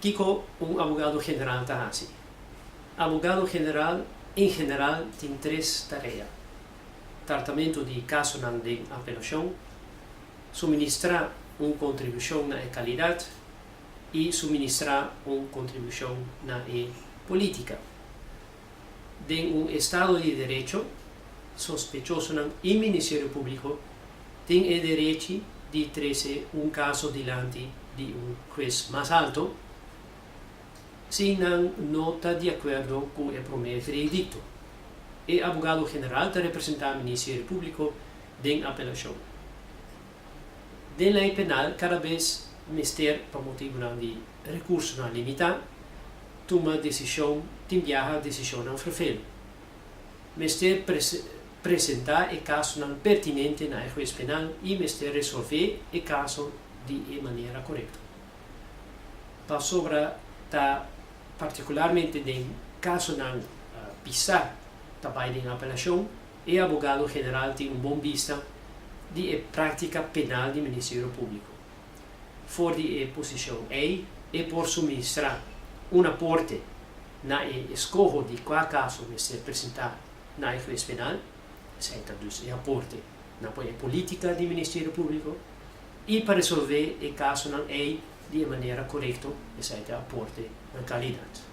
Kiko un abogado general ta hasi? Abogado general en general tin tres tarea, Tratamentu di kasonan den apelashon, Suministrá un kontribushon na e kalidat i Suministrá un kontribushon na e polítika. Den un estado di derecho, sospechosonan i Ministerio Públiko tin e derechi di trese un kaso dilanti di un hues mas alto si nan no ta di akuerdo ku e promé veredikto. E abogado general ta representá Ministerio Públiko den apelashon. den lei penal kada bes mester pa motibunan di rekursonan limitá tuma desishon tin biaha desishonnan ferfel. Mester presentá e kasonan pertinente na e hues penal i mester resolvé e kaso di e manera korekto. Pasobra ta partikularmente den kasonan pisá ta bai den apelashon, E abogado general tin un bon bista di e práktika penal di Ministerio Públiko. For di e posishon ei, e por suministrá un aporte na e eskoho di kua kaso mester presentá na e hues penal, esei ta dus e aporte na por e polítika di Ministerio Públiko, i pa resolvé e kasonan ei di e manera korekto, esei ta e aporte na kalidat.